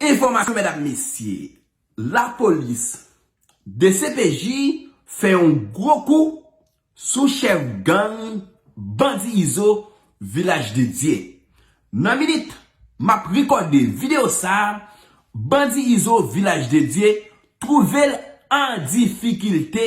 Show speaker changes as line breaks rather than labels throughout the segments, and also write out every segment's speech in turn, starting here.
Enfòmasyon mèdam mesye lapolis dcpj fè yon gwo kou sou chèf gang bandi izo vilaj de dye nan minit map rekòde video sa bandi izo vilaj de dye twouvel an difikilte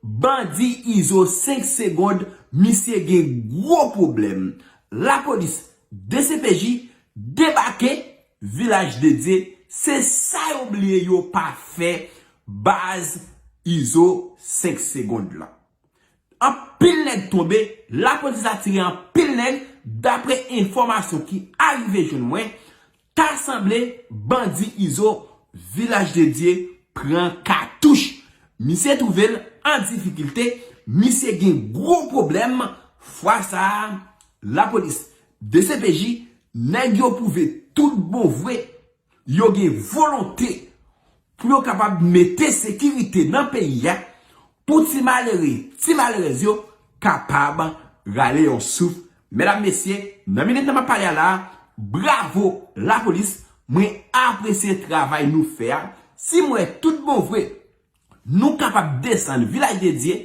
bandi izo 5 segond misye gen gwo pwoblèm lapolis dcpj Debake vilaj dedye se sa yo bliye yo pa fè baz izo 5 segond lan anpil nèg tonbe lapolis atire anpil nèg dapre enfòmasyon ki arive jwenn mwen ta sanble bandi izo vilaj dedye pran katouch misye twouve l an difikilte misye gen gwo pwoblèm fwa sa lapolis Dcpj, nèg yo pwouve tout bon vre yo gen volonte pou yo kapab mete sekirite nan peyi a pou ti malere, ti malerèz yo kapab rale yon souf. Medam, mesye, nan minit nan m ap pale a la a, bravo lapolis, mwen apresye travay nou fè a. Si m wè tout bon vre, Nou kapab desann Vilaj de Dye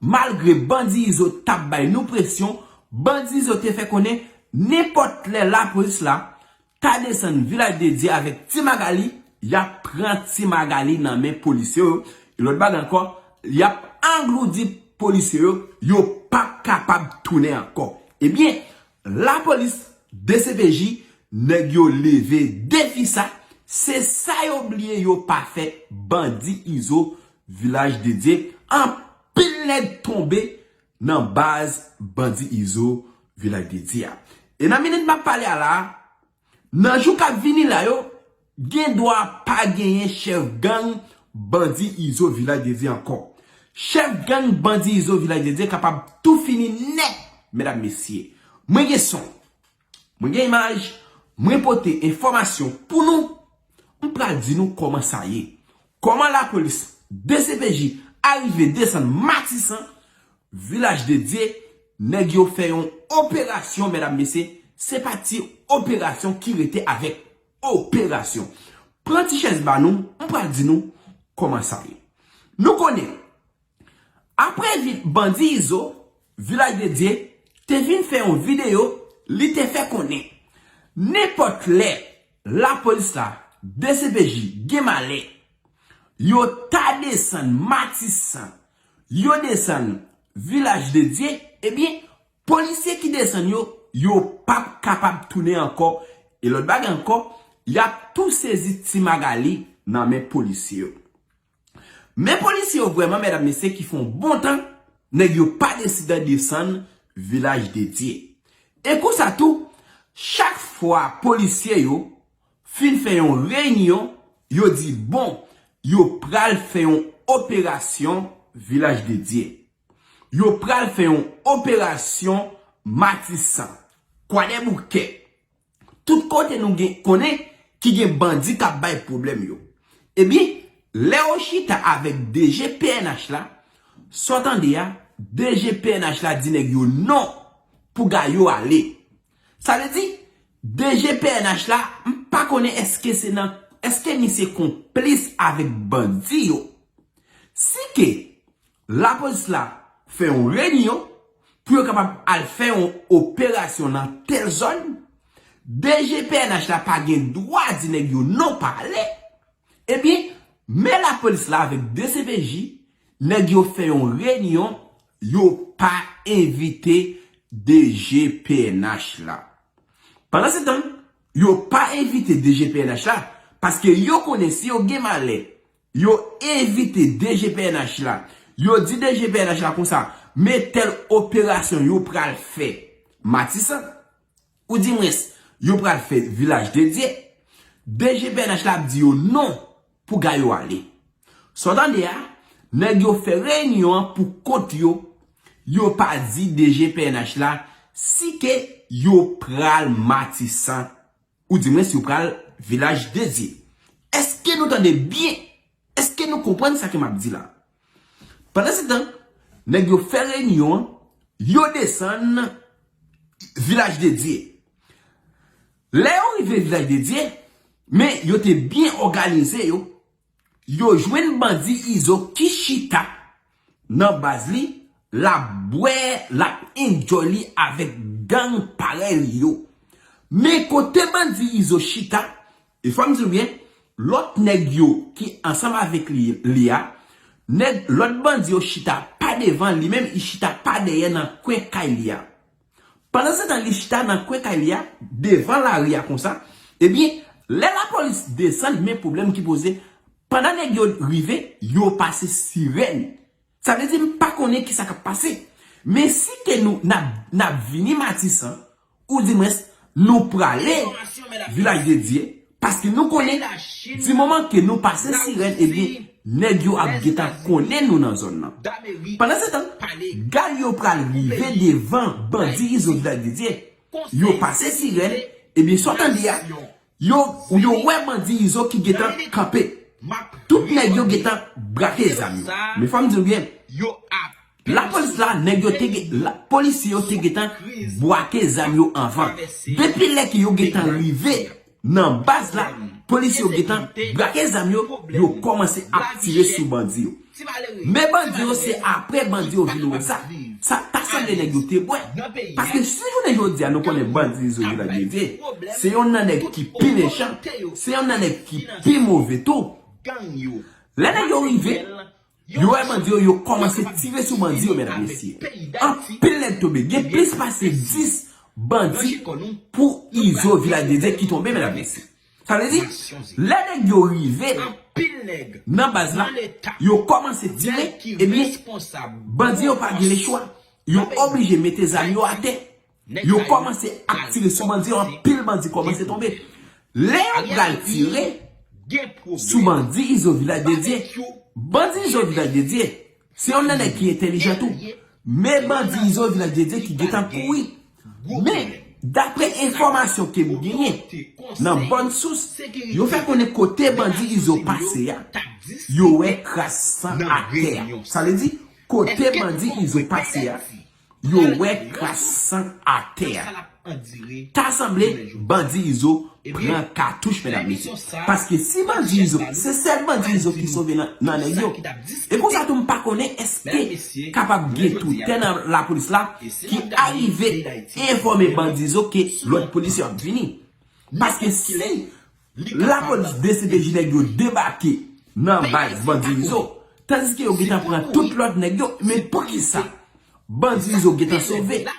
malgre bandi Izo t ap bay nou presyon, bandi Izo te fè konnen nenpòt lè lapolis la ta desann Vilaj de Dye avèk Ti Magali, y ap pran Ti Magali nan men polisye yo, yon lòt bagay ankò, y ap angloudi polisye yo, yo p ap kapab tounen ankò. Ebyen, La polis dcpj neg yo leve defi sa se sa yo bliye yo pa fe bandi izo vilaj dedye anpil neg tonbe nan baz bandi izo vilaj dedye a e nan minit map pale a la Nan jou kap vini la yo gen dwa pa genyen chèf gang bandi izo vilaj de Dye ankò. Chèf gang bandi izo vilaj de Dye kapab tou fini nèt medam mesye. Mwen gen son, mwen gen imaj, mwen pote enfòmasyon pou nou M pral di nou koman sa ye. Koman la polis dcpj arive desann matisan vilaj de dye neg yo fe yon operasyon medam mesye se pa ti operasyon ki rete avek operasyon pran ti chez ba nou m pral di nou koman sa ye nou konnen Aprè vit bandi Izo, Vilaj de Dye te vin fè yon videyo li te fè konnen nenpòt lè lapolis la, dcpj, gen malè, yo ta desann Matisan, yo desann Vilaj de Dye, ebyen polisye ki desann yo, yo p ap kapab tounen ankò e lòt bagay ankò, y ap tou sezi Ti Magali nan men polisye yo. Men polisye yo vreman medam mesye ki fon bon tan neg yo pa deside desann vilaj de dye. E konsa tou chak fwa polisye yo fin fe yon reynion yo di bon yo pral fe yon operasyon vilaj de dye. Yo pral fe yon operasyon matisan, kwadeboukè. Tout kote nou gen konnen ki gen bandi kap bay pwoblèm yo. Ebyen, lè yo chita avèk DG pnh la, sa w tande a, DG pnh la di nèg yo non pou ga yo ale. Sa vle di, DG pnh la, m pa konnen èske se nan, èske misye konplis avèk bandi yo. Si ke Lapolis la fè yon renyon pou yo kapab al fè yon operasyon nan tèl zòn, DG pnh la pa gen dwa di nèg yo non pa ale, ebyen men lapolis la avèk dcpj nèg yo fè yon renyon yo pa envite DG pnh la. Pandansetan yo pa envite DG pnh la paske yo konnen si yo gen malè Yo envite DG pnh la. Yo di DG pnh la konsa, men tèl operasyon yo pral fè Matisan, ou di mwens, yo pral fè Vilaj de Dye. DG pnh la ap di yo non pou ga yo ale. Sa w tande a, nèg yo fè reyinyon an pou kont yo, yo pa di DG pnh la si ke yo pral Matisan Ou di mwen si ou pral vilaj de Dye. Eske nou tande byen? Eske nou konprann sa ke map di la? Pandan se tan, nèg yo fè reyinyon an, yo desann vilaj de Dye. Lè yo rive vilaj de Dye, men yo te byen òganize yo. Yo jwenn bandi izo ki chita Nan baz li lap bwè lap enjoy li avèk gang parèy li yo men kote bandi izo chita e fòm diw byen lòt nèg yo ki ansanm avèk li a nèg lòt bandi yo chita pa devan li menm li chita pa dèyè nan kwen kay li a. Pandansetan li chita nan kwen kay li a, devan lari a konsa, ebyen lè lapolis desann men pwoblèm ki poze, pandan nèg yo rive, yo pase sirèn. Sa vle di m pa konnen kisa k ap pase. Men si ke nou n ap vini Matisan, oudimwens nou prale Vilaj de Dye, Paske nou konnen, di moman ke nou pase sirèn ebyen nèg yo ap gentan konnen nou nan zòn nan. Pandansetan, gad yo pral rive devan bandi Izo Vida Didye, yo pase sirèn, ebyen sa w tande a, yo yo wè bandi Izo ki gentan kanpe. Tout nèg yo gentan brake zam yo. Men fò m di w byen. La polis la neg yo te gen la polisye yo te gentan bwake zam yo anvan depi lè ke yo gentan rive nan baz la polisye yo gentan bwake zam yo yo komanse ap tire sou bandi yo men bandi yo se apre bandi yo vin wè sa sa ta sanble neg yo te bwè paske sou jounen jodia nou konnen bandi izo jina dedye se yon nan neg ki pi mechan se yon nan neg ki pi move tou lè neg yo rive Yo wè bandi yo yo kòmanse tire sou bandi yo mèdam mesye. Anpil nèg tonbe gen plis pase 10 bandi pou izo vilaj de Dye ki tonbe mèdam mesye. Sa vle di lè nèg yo rive nan baz la yo kòmanse tire ebyen bandi yo pa gen lechwa yo oblije mete zam yo atè Yo komanse ap tire sou bandi yo anpil bandi komanse tonbe lè yo pral tire sou bandi izo vilaj dedye bandi izo vilaj dedye se yon nan nèg ki entelijan tou me bandi izo vilaj dedye ki gentan kouri me dapre enfomasyon kem genyen nan bon sous yo fè konnen kote bandi izo pase a yo wè kras san atè a sa vle di kote bandi izo pase a Yo wè kras san atè a. Ta sanble bandi izo pran katouch medam mesye. Paske si bandi izo se sèl bandi izo ki sove nan nèg yo. E konsa tou m pa konnen eske kapab gen toutè nan lapolis la ki arive enfòme bandi izo ke lòt polisye ap vini. Paske si. Lapolis deside di nèg yo debake nan baz bandi izo tandiske yo gentan pran tout lòt nèg yo men poukisa bandi izo gentan sove.